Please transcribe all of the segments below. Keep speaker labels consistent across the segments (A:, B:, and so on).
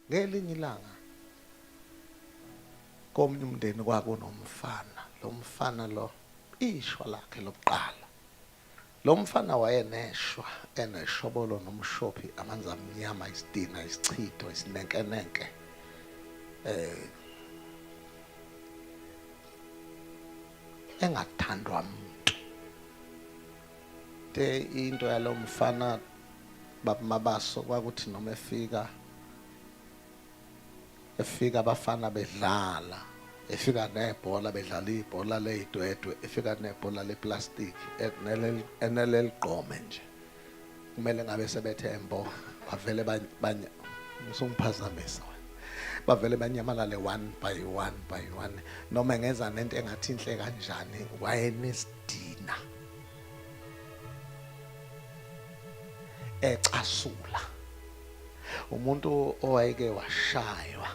A: ngelinye ilanga komunye umndeni kwakunomfana lo mfana lo ishwa lakhe lokuqala lo mfana wayeneshwa eneshobolo nomshophi amanzi amnyama isidina isichitho isinenkenenke eh engathandwa muntu de into yalo mfana baba mabaso kwakuthi noma efika efika abafana bedlala efika nebhola bedlala ibhola leyidwedwe efika nebhola leplastic eneleligqome nje kumele ngabe sebethe embo bavele banye usungiphazamisa bavele banyamalale one by one by one noma ngenza nento engathi inhle kanjani wayenesidina ecasula umuntu owayeke washaywa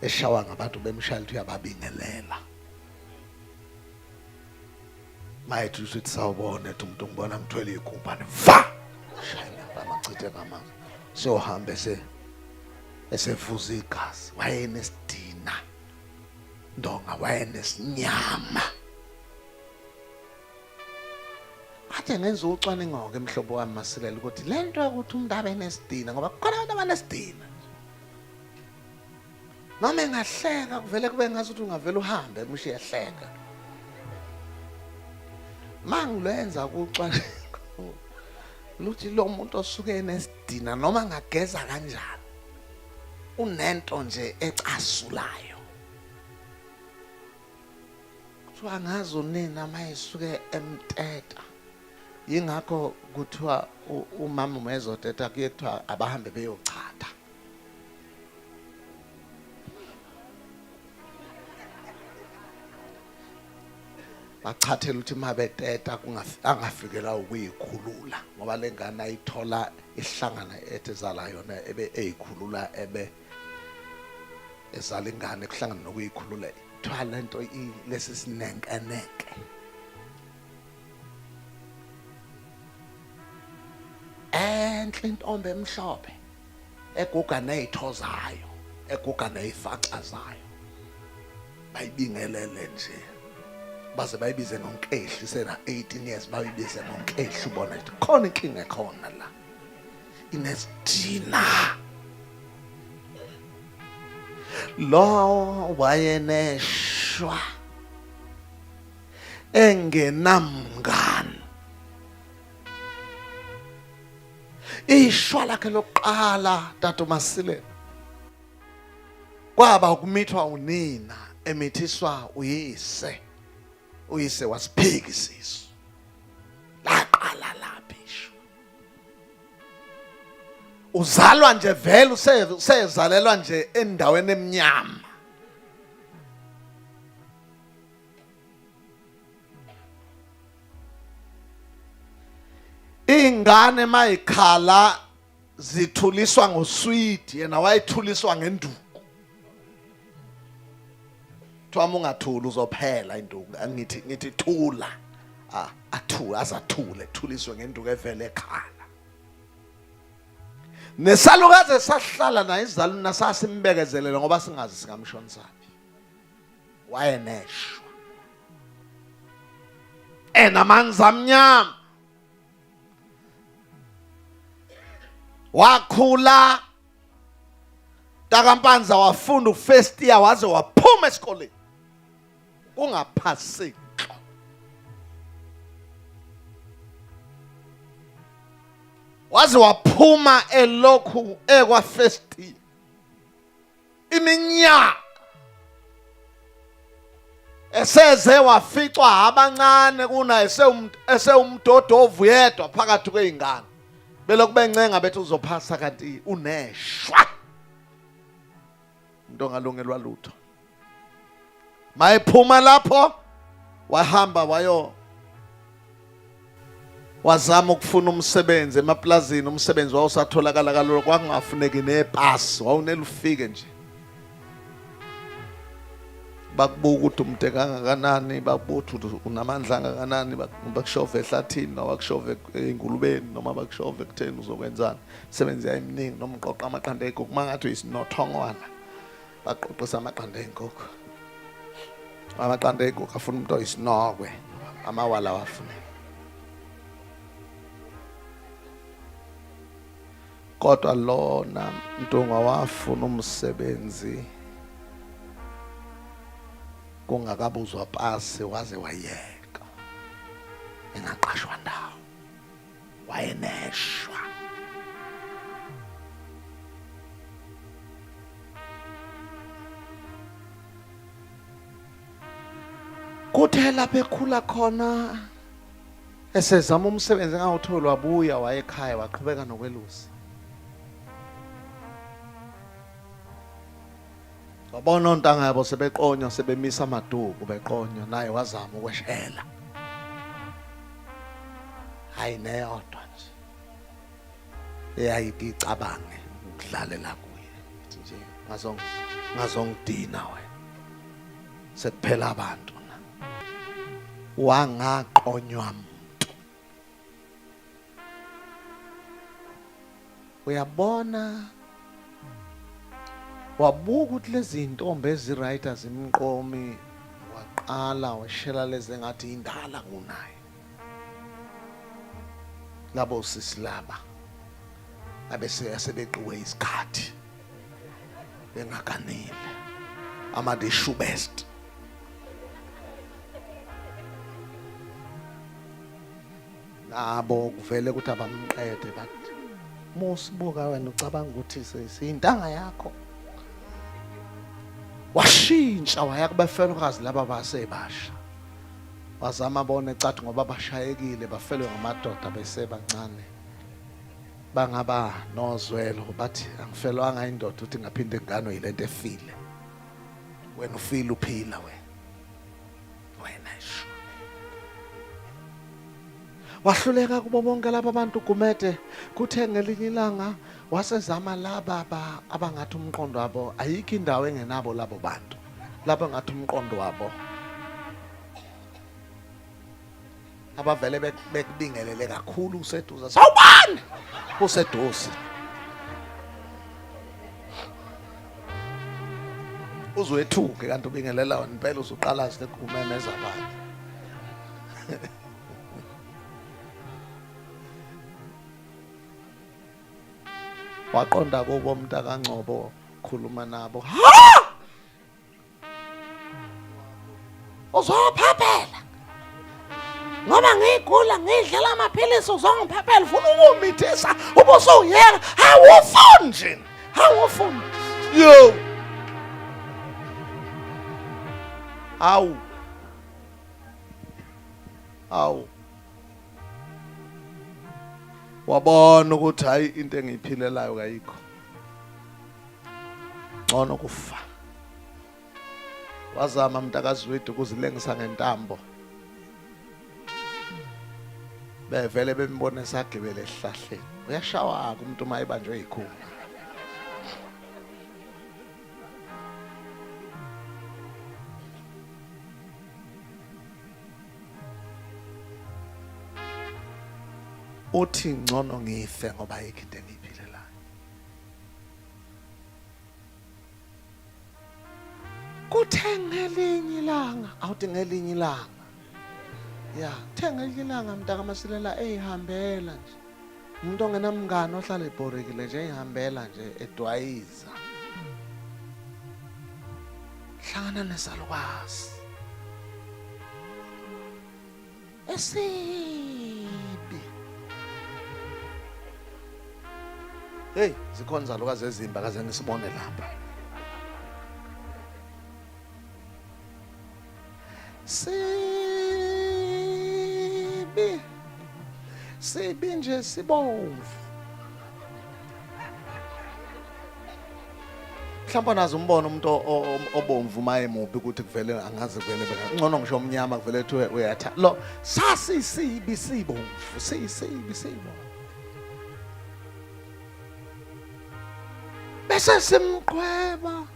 A: eshawa ngabantu bemshaya lithi uyababingelela mayethi usithi sawubona ethi umuntu ngibona ngithwele igumbane va shayela amachithe ngamanga siyohamba ese esevuza igazi wayenesidina ndonga wayenesinyama Athe ngenza ucwaningo-ke mhlobo wami masilela ukuthi le nto yokuthi umuntu abe nesidina ngoba kukhona abantu abanesidina noma engahleka kuvele kube ngazi ukuthi ungavele uhambe mushe ehleka mangilwenza kucwaningo luthi lo muntu osuke enesidina noma ngageza kanjani unento nje ecasulayo kuthiwa ngazi unina uma esuke emteta yingakho kuthiwa umama uma ezoteta kuye kuthiwa abahambe beyochatha bachathela ukuthi uma beteta angafikelwa ukuyikhulula ngoba le ngane ayithola ihlangana ethi zala yona ebe eyikhulula ebe ezala ingane kuhlangana nokuyikhulula kuthiwa le nto lesi sinenkeneke enhle intombi emhlophe eguga nezitho zayo eguga nezifaxa zayo bayibingelele nje baze bayibize ngonkehli sena 18 years bayibize ngonkehli ubona ukuthi khona inkinga ekhona la inesidina lo wayeneshwa engenamngani ishwa lakhe lokuqala tata uMasilela kwaba ukumithwa unina emithiswa uyise uyise wasiphiki isisu laqala laphi isho uzalwa nje vele usezalelwa nje endaweni emnyama ingane mayikhala zithuliswa ngoswidi yena wayithuliswa ngenduku Kuthiwa ungathuli uzophela induku. Angithi ngithi thula. Ah, athule azathule, thuliswe ngenduku evele ekhaya. nesalukazi esahlala naye izaluna sasimbekezelela ngoba singazi singamshonisaphi wayeneshwa enamanzi amnyama wakhula Takampanza wafunda ufirst year waze waphuma esikoleni kungaphaseki waze waphuma elokhu ekwa first year iminyaka eseze waficwa abancane kuna esewumdodovu yedwa phakathi kwey'ngane belokhu bencenga bethi uzophasa kanti uneshwa umuntu ongalungelwa lutho Mayephuma lapho wahamba wayo wazama ukufuna umsebenzi emaplazini, umsebenzi wawusatholakala kalula, kwakungafuneki nepasi, wawunele ufike nje. Bakubuka ukuthi umde kangakanani, bakubuka ukuthi unamandla angakanani, bakushove ehlathini noma bakushove engulubeni noma bakushove ekutheni uzokwenzani. Imisebenzi yayiminingi noma uqoqa amaqanda egogo, uma ngathi uyisinothongwana baqoqisa amaqanda ey'nkukhu amaqanda ey'nkukhu afuna umuntu oyisinokwe amawala wafune kodwa lona mntungwa wafuna umsebenzi kungakabuzwa pasi waze wayeka engaqashwa ndawo wayeneshwa kuthe lapho ekhula khona esezama umsebenzi engawutholi wabuya wayekhaya waqhubeka nokwelusa Wabona ontanga yabo sebeqonywa sebemisa amaduku beqonywa naye wazama ukweshela. Hayi neyodwa nje. Eyayiti icabange ukudlalela kuye. Ithi nje ngazong ngazongidina wena. Sekuphela abantu. Wangaqonywa uyabona wabuka ukuthi lezi ntombi eziright azimqomi waqala washela lezi engathi indala kunaye labo sisi laba abeseyasebeqiwe isikhathi bengaganile ama the shoe best nabo kuvele ukuthi abamqede bathi musibuka wena ucabanga ukuthi siyintanga yakho washintsha waya kubafelokazi laba basebasha wazama bona ecathi ngoba bashayekile bafelwe ngamadoda besebancane bangaba nozwelo bathi angifelwanga indoda uthi ngaphinda ingane yilento efile wena ufile uphila wena wena sho wahluleka kubo bonke laba bantu gumede kuthe ngelinye ilanga wasezama laba abangathi umqondo wabo ayikho indawo engenabo labo bantu laba ngathi umqondo wabo abavele bek- bekubingelele kakhulu useduze sawubani useduze uzwethuke kanti ubingelela wena impela uzuqalazi lekumemeza abantu waqonda kubo mntakangcobo khuluma nabo ha uzophephela ngoba ngigula ngidlela amaphilisi uzongiphephela ufuna ukumithisa ube usuyeka awufuni nje awufuni yo awu awu wabona ukuthi hayi into engiyiphilelayo kayikho ngcono kufa wazama mntakazwidi ukuzilengisa ngentambo bevele bembone sagibele esihlahleni uyashawaka umuntu uma ebanjwe yikhulu uthi ngcono ngife ngoba yikho into engiyiphilelayo kuthe ngelinye ilanga awuthi ngelinye ilanga ya kuthe ngelinye ilanga mntakamasilela eyihambela nje umuntu ongenamngane ohlala ebhorekile nje eyihambela nje edwayiza hlangana nesalukazi esibi hey zikhona izalukazi ezimba kaze ngisibone lapha sibi sibi nje sibomvu mhlawumbe nazi umbona umuntu obomvu uma emubi ukuthi kuvele angazi kuvele ngcono ngisho omnyama kuvele kuthiwe uyatha lo sasisibi sibomvu sisibi sibomvu bese simqhweba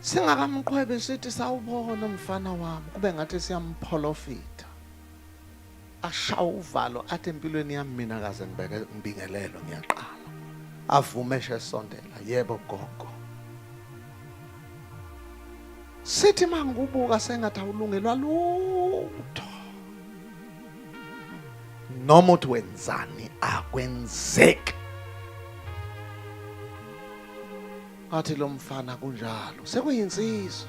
A: singakamqhwebi sithi sawubona umfana wami kube ngathi siyamupholofita ashawa uvalo athi empilweni yami mina kaze ngibeke ngibingelelo ngiyaqala avume eshe esondela yebo gogo sithi mangibuka sengathi awulungelwa lutho noma uthi wenzani akwenzeki athi lo mfana kunjalo sekuyinsizwa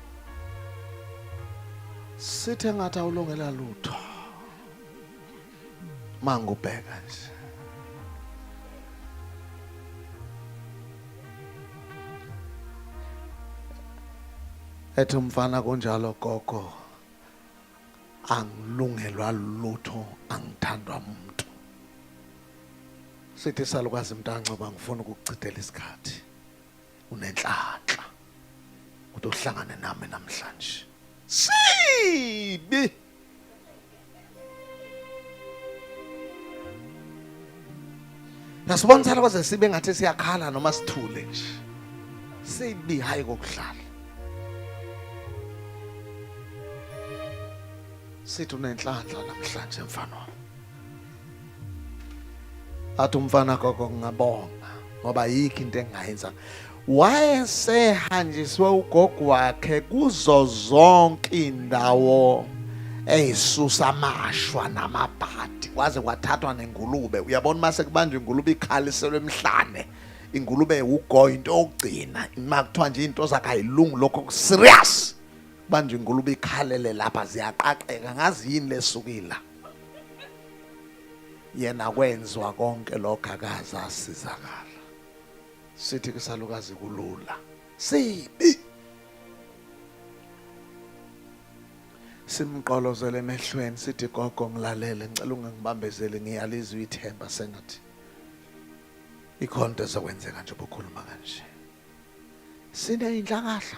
A: sithe ngathi awulongela lutho mangubheka nje ethi umfana kunjalo gogo angilungelwa lutho angithandwa umuntu sithi salukwazi mntancoba ngifuna ukuchithela isikhathi unenhlanhla ukuthi uhlangane nami namhlanje sibi nasibona sala kwaze sibe ngathi siyakhala noma sithule nje sibi hayi kokudlala sithi unenhlanhla namhlanje mfana wami athi umfana gogo ngingabonga ngoba yikho into engingayenza wayesehanjiswe ugogo wakhe kuzo zonke indawo eyisusa amashwa namabhadi kwaze kwathathwa nengulube uyabona uma sekubanjwa ingulube ikhaliselwe emhlane ingulube ugogo into yokugcina uma kuthiwa nje into zakayilungu lokho serious kubanjwa ingulube ikhalele lapha ziyaqaqeka ngazi yini lesukile yena kwenzwa konke lokho akaze asizakala sithi kusalukazi kulula sibi simqolozele emehlweni sithi gogo ngilalele ngicela ungangibambezeli ngiyalizwa ithemba sengathi ikhonto ezokwenzeka nje ubukhuluma kanje sine inhlangahla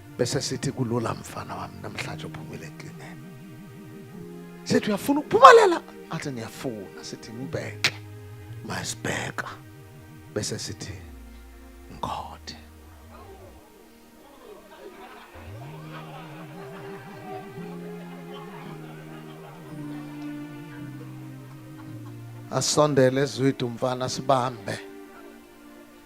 A: bese sithi kulula mfana wami namhlanje uphumile eklineni sithi uyafuna ukuphumelela athi ngiyafuna sithi ngibheke masibheka bese sithi ngikhothe asondele ezwidi umfana sibambe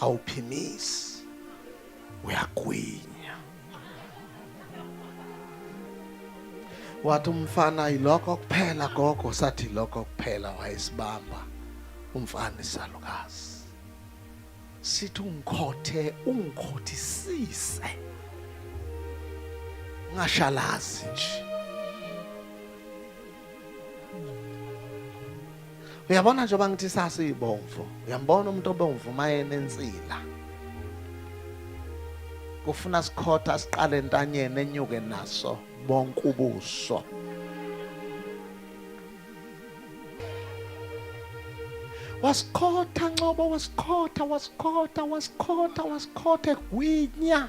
A: awuphimisi uyagwinya wathi umfana yilokho kuphela gogo sathi lokho kuphela wayesibamba umfana isalukazi sithi ungikhothe ungikhothisise ngashalazi nje uyabona njengoba ngithi sasiyibomvu uyambona umuntu obomvu uma enensila kufuna sikhotha siqale entanyeni enyuke naso bonke ubuso wasikhotha ncobo wasikhotha wasikhotha wasikhotha wasikhotha egwinya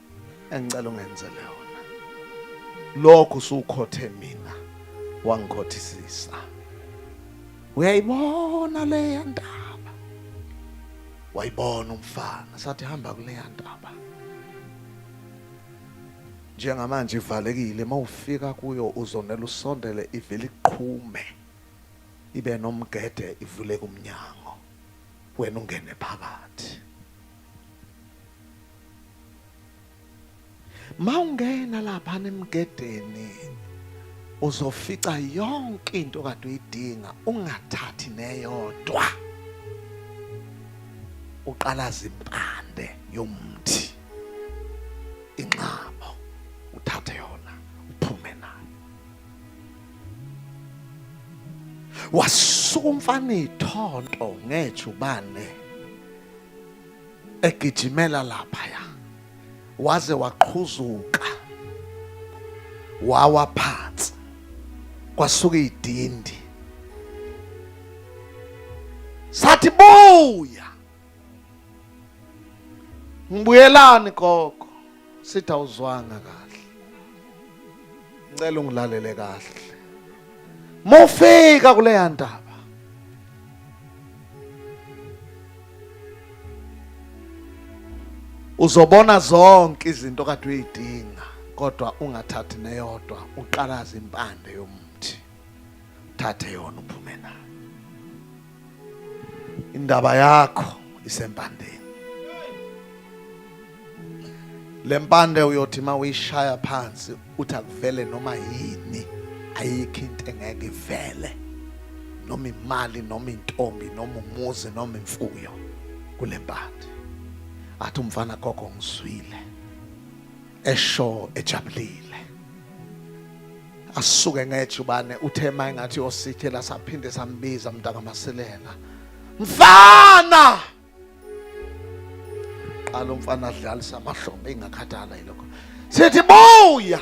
A: engicela ungenzele yona lokho usukhothe mina wangikhothisisa uyayibona leya ndaba wayibona umfana sathi hamba kuleya ndaba njengamanje ivalekile mawufika kuyo uzonela usondele ivele iqhume ibe nomgede ivuleke umnyango wena ungene phakathi mawungena lapha nemgedeni uzofica yonke into kade uyidinga ungathathi neyodwa uqalaza impande yomthi inxabo uthathe yona uphume nayo wasuka umfana ithonto ngejubane egijimela laphaya waze waqhuzuka wawa phansi kwasuka idindi sathi buya ngibuyelani gogo sithi awuzwanga kahle ngicela ungilalele kahle mufika kuleya ndaba uzobona zonke izinto kade uyidinga kodwa ungathathi neyodwa uqalaza impande yomuthi thathe yona uphume nayo indaba yakho isempandeni lempande uyothi uma uyishaya phansi uthi akuvele noma yini ayikho into engeke ivele noma imali noma intombi noma umuzi noma imfuyo kulempande athi umfana gogo ngizwile esho ejabulile asuke ngejubane uthe maye ngathi osithela saphinde sambiza mntaka masilela mfana qala umfana adlalisa amahlombe ingakhathala yilokho sithi buya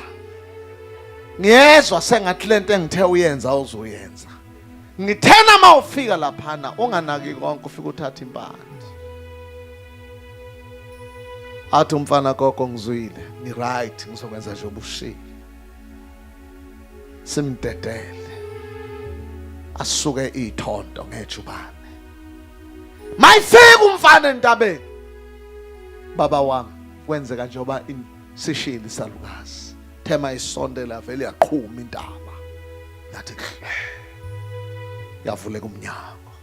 A: ngiyezwa sengathi lento engithe uyenza uzoyenza ngithena uma ufika laphana unganaki konke ufike uthatha impande athi umfana gogo ngizwile ni right ngizokwenza nje obushile simdedele asuke ithonto ngejubane mayifika umfana entabeni baba wami kwenzeka njengoba sishili salukazi thema isonde lavele yaqhuma intaba yathi yavuleka umnyango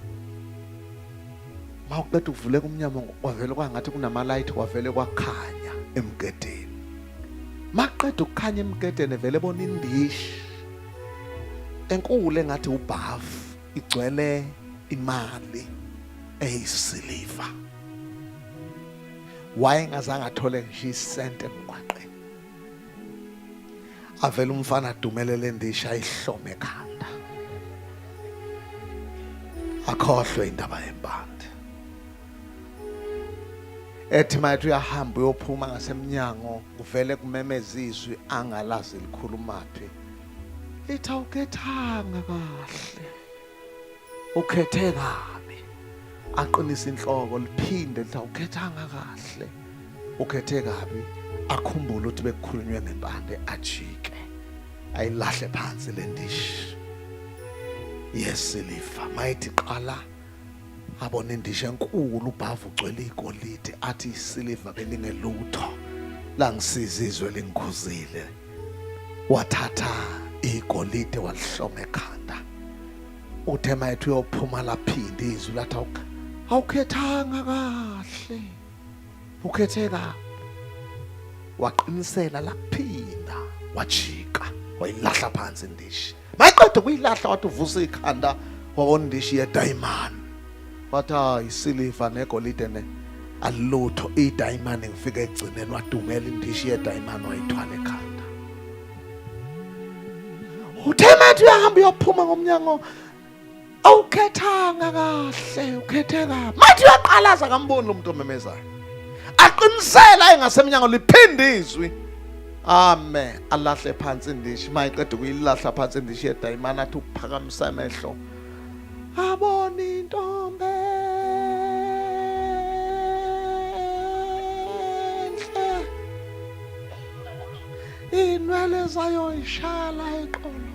A: ma uqeda ukuvuleka umnyango kwavele kwangathi kunamalayithi kwavele kwakhanya emgedeni maqeda ukukhanya emgedeni vele bona indishi enkulu engathi ubhavu igcwele imali eyisiliva wayengazange athole ngisho isente emgwaqeni avele umfana adumelele endisha ayihlome ekhanda akhohlwe indaba yempande ethi mayethi uyahamba uyophuma ngasemnyango kuvele kumemeza izwi angalazi likhulumaphi lithi awukethanga kahle ukhethe kabi aqinisa inhloko liphinde lithi awukhethanga kahle ukhethe kabi akhumbule ukuthi bekukhulunywe ngempande ajike ayilahle phansi le ndishi yesilifa mayithi qala abona indishi enkulu ubhavu ugcwele igolide athi isiliva belingelutho langisiza izwe lingikhuzile wathatha igolide walihloma ekhanda uthe mayethi uyophuma laphinde izwi lathi awukhethanga kahle ukhethe kabi waqinisela laphinda wajika wayilahla phansi indishi mayiqeda ukuyilahla wathi uvusa ikhanda wakondishi yedayimani wathi hayi isiliva negolide ne alutho idayimani ngifike egcineni wadumela indishi yedayimani wayithwala ekhanda uthe mathi uyahamba uyophuma ngomnyango awukhethanga kahle ukhethe kabi mathi uyaqalaza kamboni lo muntu omemezayo aqinisela engasemnyango liphinde izwi ame alahle phansi indishi mayiqeda ukuyilahla phansi indishi yedayimana athi ukuphakamisa amehlo abona intombi inwele zayo ishaya la eqolo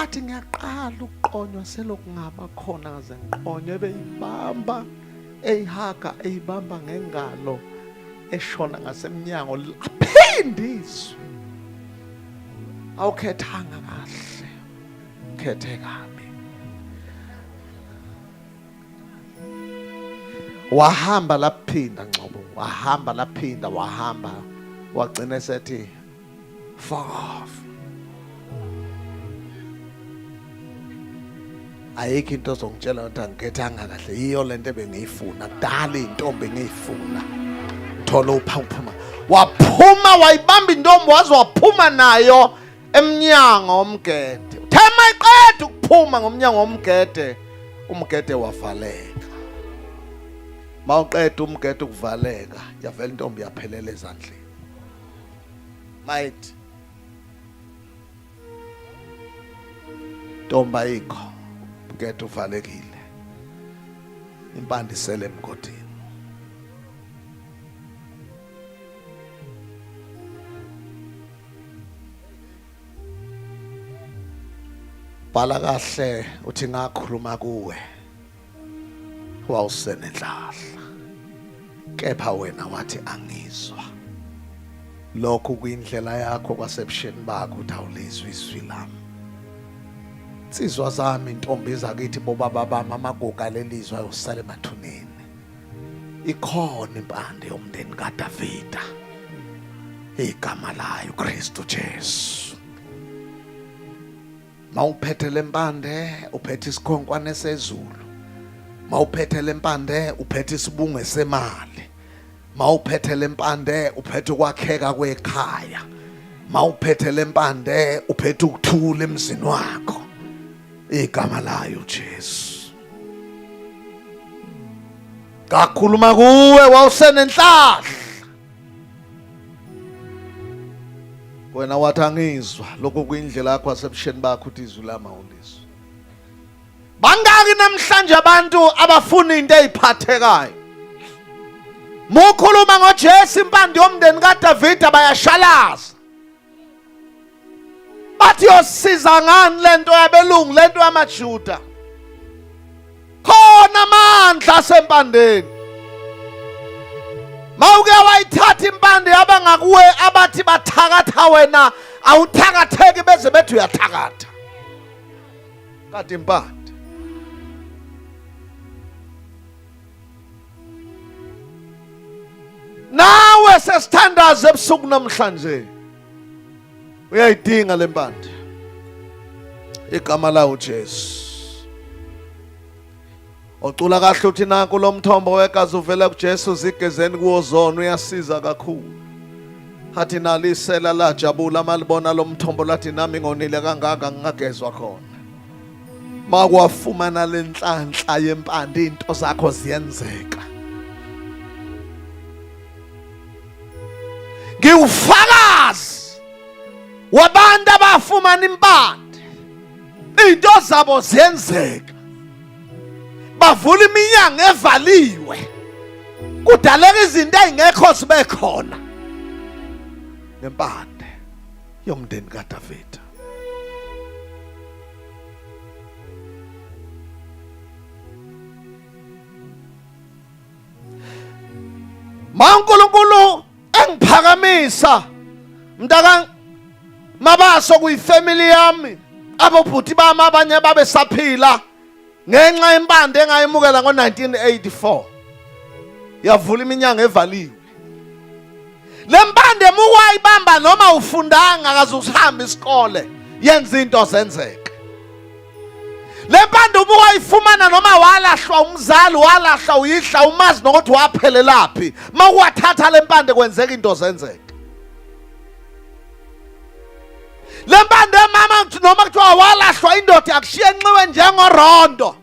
A: athi ngiyaqala ukuqonywa selokungaba khona ngaze ngiqonywe beyibamba eyihaga eyibamba ngengalo eshona ngasemnyango laphinde izwi awukhethanga kahle ukhethe kabi wahamba laphinda ngcobo wahamba laphinda wahamba wagcina esethi far off ayikho into ozongitshela ukuthi angikethanga kahle yiyo lento ebengiyifuna kudala intombi engiyifuna thola uphawuphuma waphuma wayibamba intombi waze waphuma nayo emnyango omgede uthema iqeda ukuphuma ngomnyango omgede umgede wavaleka mawuqeda umgede ukuvaleka yavela intombi yaphelela ezandleni Might. Tomba ikho. Mketho uvalekile. Impande isele emgodini. Bhala kahle uthi ngakhuluma kuwe. wawusenenhlahla kepha wena wathi angizwa lokho kuyindlela yakho kwasebusheni bakho ukuthi awulizwi izwi lami nsizwa zami intombi zakithi bobaba bami amagugu alelizwe ayosala emathuneni ikhona impande yomndeni kadavida igama layo kristu jesu mawuphethe lempande uphethe isikhonkwane sezulu mawuphethe lempande uphethe isibunge semali mawuphethe lempande uphethe ukwakheka kwekhaya mawuphethe lempande uphethe ukuthula emzini wakho igama layo Jesu kakhuluma kuwe wawusenenhlahla wena wathi angizwa lokho kuyindlela yakho asebusheni bakho uthi izwi lami awulizwa bangaki namhlanje abantu abafuna into eziphathekayo mukhuluma ngoJesu impande yomndeni kaDavida bayashalaza bathi yosiza ngani lento yabelungu lento yamajuda khona amandla asempandeni mawuke wayithatha impande yabangakuwe abathi bathakatha wena awuthakatheki beze bethi uyathakatha kade impande nawe sesithandaze ebusuku namhlanje uyayidinga le mpande igama lawo Jesu ocula kahle uthi nanku lo mthombo wegazi uvela kuJesu zigezeni kuwozona uyasiza kakhulu athi nalisela lajabula malibona lo mthombo lathi nami ngonile kangaka ngingagezwa khona makwafumana lenhlanhla yempande into zakho ziyenzeka ngiwufakazi wabantu abafumana impande into zabo zenzeka bavula iminyango evaliwe kudaleka izinto ezingekho zibe khona ngempande yomndeni kaDavida Ma uNkulunkulu engiphakamisa mntaka mabaso kuyifamily yami abobhuti bami abanye babe saphila ngenxa yempande engayemukela ngo-1984 yavula iminyango evaliwe le mpande muwayibamba noma ufundanga akaze usihambe isikole yenza into zenzeke le mpande uma wayifumana noma walahlwa umzali walahla uyihla umazi nokuthi waphelelaphi uma uwathatha le mpande kwenzeka into zenzeke le mpande mama noma kuthiwa walahlwa indoda yakushiya enxiwe njengorondo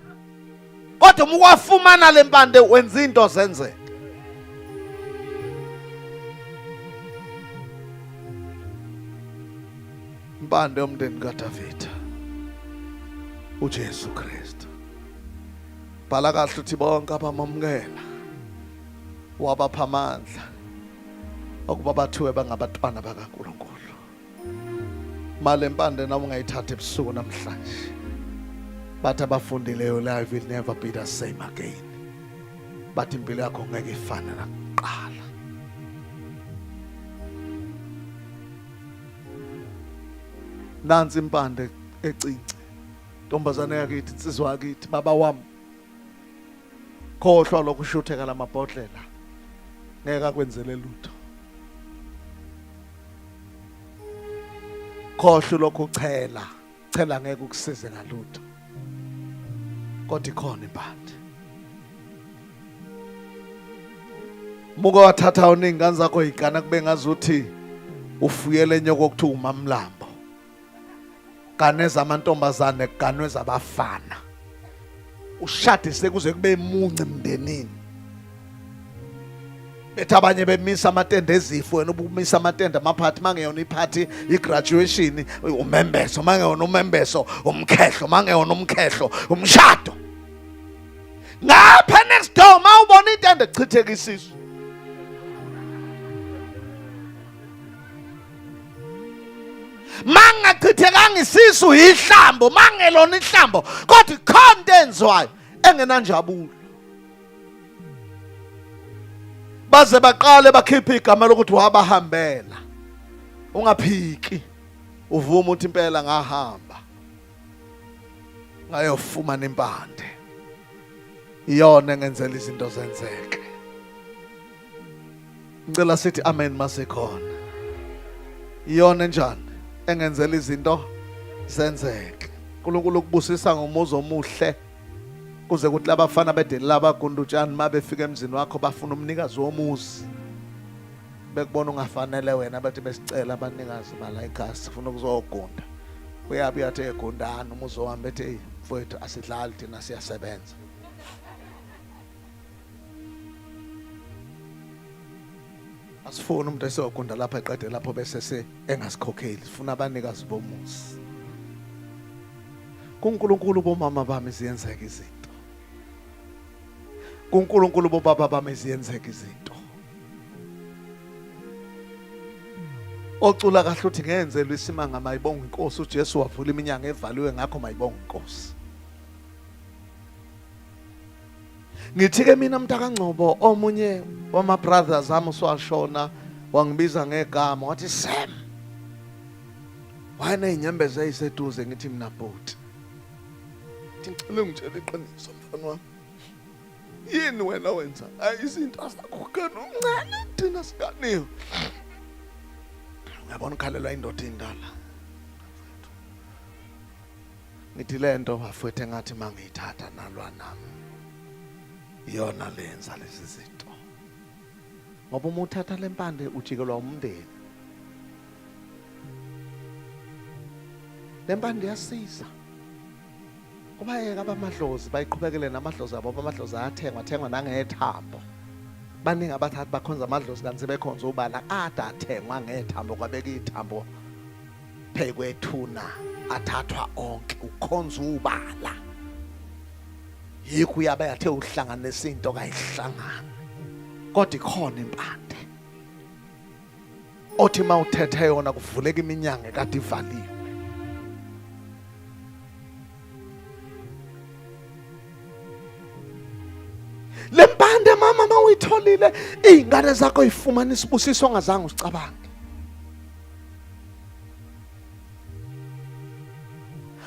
A: kodwa uma uwafumana le mpande wenza into zenzeka impande yomndeni kadavida ujesu kristu bhala kahle ukuthi bonke abamamukela wabapha amandla okuba bathiwe bangabatwana bakankulunkulu mali empande nawe ungayithatha ebusuku namhlanje bathi abafundileyo life will never be the same again bathi impilo yakho ngeke ifane nakuqala nansi impande ecinci ntombazane yakithi insizwa yakithi baba wami khohlwa lokushutheka lamabhodlela ngeke akwenzele lutho khohlwa lokhu chela chela ngeke ukusize ngalutho kodwa ikhona impande muke wathatha uningane zakho yigana kube ngazuthi ufuyele nyoko okuthiwa umamlambo gane zamantombazane ganwe zabafana ushade sekuze kube munci mndenini bethi abanye bemisa amatende ezifo wena ubumisa amatende amaphathi mangeyona iphathi igraduation umembeso mangeyona umembeso umkhehlo mangeyona umkhehlo umshado ngapha next door mawubona itende chitheka isisu mangachithekanga isisu yihlambo mangelona ihlambo kodwa ikhona into enziwayo engenanjabulo baze baqale bakhiphe igama lokuthi wabahambela ungaphiki uvuma ukuthi impela ngahamba ngayofumana impande iyona engenzela izinto zenzeke ngicela sithi amen masekhona iyona enjani engenzela izinto zenzeke uNkulunkulu ukubusisa ngomuzi omuhle kuze kuthi labafana bedelela abagundutshani uma befika emzini wakho bafuna umnikazi womuzi bekubona ungafanele wena bathi besicela abanikazi bala igasi funa ukuzogunda uyabe uyathi egundani umuzi wami bethi eyi mfowethu asidlali thina siyasebenza asifuni umuntu esiyogunda lapha eqede lapho bese se engasikhokheli sifuna abanikazi bomuzi kuNkulunkulu bomama bami ziyenzeka izinto kuNkulunkulu bobaba bami ziyenzeka izinto ocula kahle uthi ngenzelwe isimanga mayibonga inkosi uJesu wavula iminyango evaliwe ngakho mayibonga inkosi Ngithike mina mntakangcobo omunye wama brothers ami uswashona wangibiza ngegama wathi Sam wayena inyembeza eyiseduze ngithi mina bhuti ngicela ungitshele iqiniso mfana wami yini wena wenza izinto asakhukana umncane thina sikaniyo uyabona ukhalelwa indoda indala ngithi lento bafwethu engathi mangiyithatha nalwa nami iyona lenza lezi zinto ngoba uma uthatha lempande ujikelwa umndeni lempande yasiza kubayeka abamadlozi bayiqhubekele namadlozi abo abamadlozi ayathengwa thengwa nangethambo baningi abathathi bakhonza amadlozi kanti sebekhonza ubala ada athengwa ngethambo kwabeka ithambo Phekwethuna athathwa onke ukhonza ubala. Yikho uyabe athe uhlanganisa into kayihlangana. Kodwa ikhona impande. Othi mawuthethe yona kuvuleka iminyango ekade ivaliwe. le mpande mama uma uyitholile iy'ngane zakho yifumana isibusiso ongazange usicabange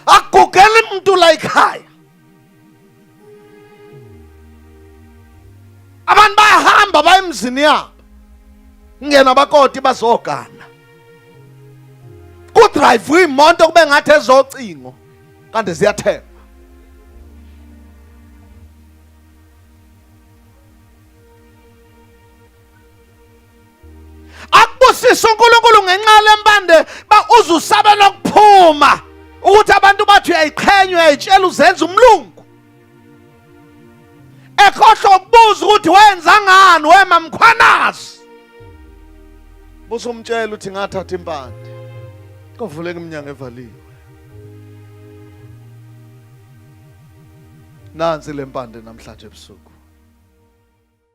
A: agugele umuntu la ekhaya abantu bayahamba baye emzini yabo ngena bakoti bazogana kudrayivwe imoto kube ngathi ezocingo kanti ziyathengwa akubusisa uNkulunkulu ngenxa lempande ba uzusabela ukuphuma ukuthi abantu bathi uyayiqhenya uyayitshela uzenza umlungu ekhohlwa ukubuza ukuthi wenza ngani wema mkhwanazi busumtshela ukuthi ngathatha impande kovuleka iminyango evaliwe nansi lempande namhlanje ebusuku